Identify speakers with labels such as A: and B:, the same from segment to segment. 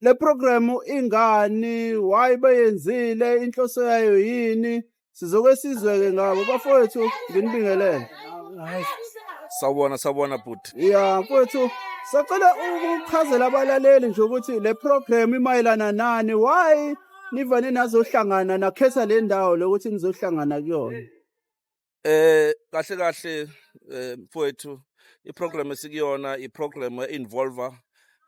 A: le program ingani why beyenzile inhloso yayo yini sizoke sizwe-ke ngabo bafowethu nginibingelele sawubona
B: sawubona bhuti ya mfowethu
A: sacela ukuchazela abalaleli nje ukuthi le program imayelana nani why nivane nazohlangana nakhetha le ndawo lokuthi nizohlangana kuyona Eh kahle
B: kahle eh, mfowethu iprogram esikuyona iprogram einvolve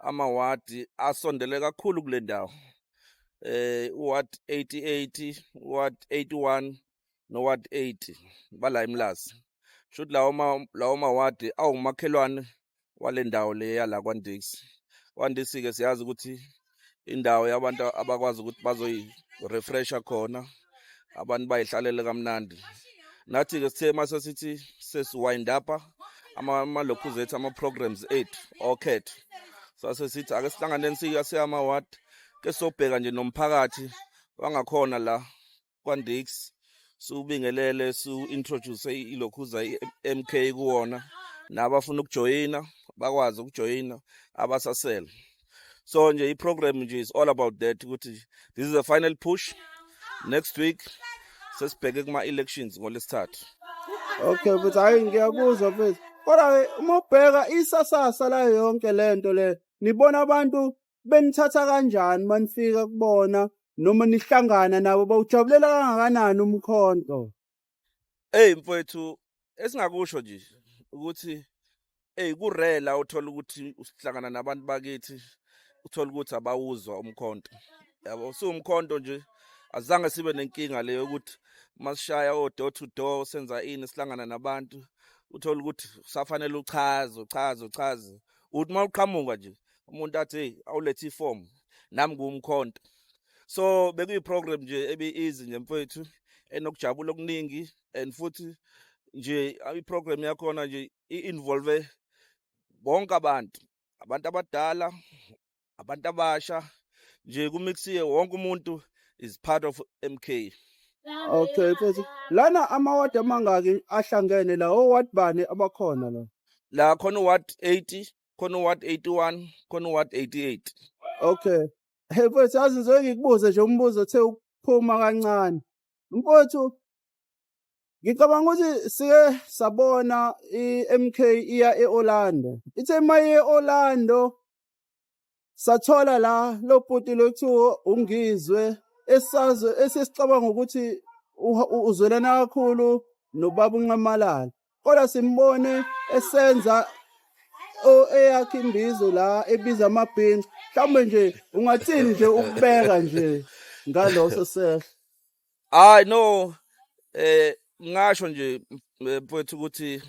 B: amawadi asondele kakhulu kule ndawo. Eh ward 88, ward 81 no ward 80 bala eMlazi. Shuthi lawo ma lawo mawadi awumakhelwane wale ndawo le yala kwaNdiksi. KwaNdiksi-ke siyazi ukuthi indawo yabantu abakwazi ukuthi bazoyi-refresha khona, abantu bayihlalele kamnandi. Nathi-ke sithe uma sesithi sesiwind up-a amalokhuzi ethu ama-programs ethu okhetho sase sithi ake sihlanganeni siyase ama-ward ke sobheka nje nomphakathi wangakhona la kwaNdix siwubingelele siwu-introduce ilokhuza i-MK kuwona nabafuna ukujoyina bakwazi ukujoyina abasasele so nje i-program nje is all about that ukuthi this is a final push next week sesibheke kuma-elections ngolesithathu okay
A: mfethu hhayi ngiyakuzwa mfethu kodwa-ke uma ubheka isasasa layo yonke le nto le nibona abantu benithatha kanjani manifika kubona noma nihlangana nabo bawujabulela kangakanani umkhonto hey
B: mfowethu esingakusho nje ukuthi hey kurela uthola ukuthi usihlangana nabantu bakithi uthola ukuthi abawuzwa umkhonto yabo siwumkhonto nje azange sibe nenkinga leyo ukuthi masishaya o door to door senza ini sihlangana nabantu uthola ukuthi safanele uchaze uchaze uchaze uthi uma uqhamuka nje umuntu athi awulethe iform nami ngumkhonto so bekuyi program nje ebi easy nje mfethu enokujabula okuningi and futhi nje i program yakhona nje i involve bonke abantu abantu abadala abantu abasha nje kumixiye wonke umuntu is part of MK Okay
A: mfethu lana ama ward amangaki ahlangene la o ward bani abakhona la la khona ward
B: 80 khona uward 81 khona uward 88 okay
A: hey mfowethu yazi ngizoke ngikubuze nje umbuzo othe ukuphuma kancane mfowethu ngicabanga ukuthi sike sabona i-mk iya e-orlando ithe uma iye e-orlando Sathola la lo bhuti lokuthiwa uNgizwe esazo esesicabanga ukuthi uha- u- uzwelana kakhulu nobaba uNxamalala. Kodwa simbone esenza o- eyakhe imbizo la ebiza amabhinca. Mhlawumbe nje ungathini nje ukubeka nje ngaloso sehlo. hayi no
B: eh ngasho nje eh, mfowethu ukuthi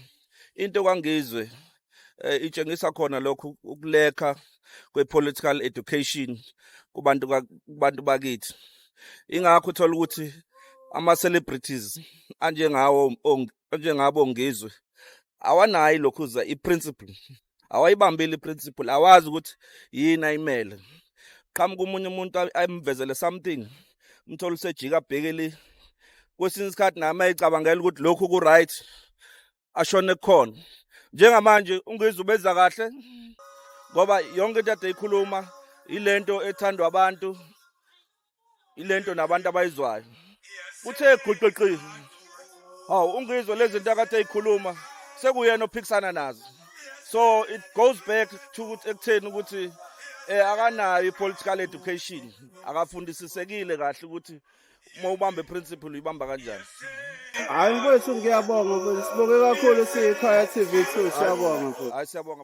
B: into kwangizwe eh, itshengisa khona lokhu ukulekha kwepolitical education kubantu kubantu bakithi ingakho uthola ukuthi ama celebrities anjengawo anjengabo ngizwe awanayi lokhuza i principle awayibambile i-principle awazi ukuthi yini ayimele qhamuka omunye umuntu ayimvezele something umthole usejika abhekeli kwesinye isikhathi nami ayicabangela ukuthi lokhu ku-right ashone kukhona njengamanje ungizwe ubenza kahle ngoba yonke into ade ikhuluma ilento ethandwa abantu ilento nabantu abayizwayo kuthe guqiqi hawu ungizwe lezi zinto akade eyikhuluma sekuyena ophikisana nazo so it goes back to ekutheni ukuthi eh akanayo i-political education akafundisisekile kahle ukuthi uma ubambe principle uyibamba kanjani hayi
A: mfowethu ngiyabonga
B: mfowethu
A: sibonge kakhulu siyikhaya tv two siyabonga mfowethu hayi siyabonga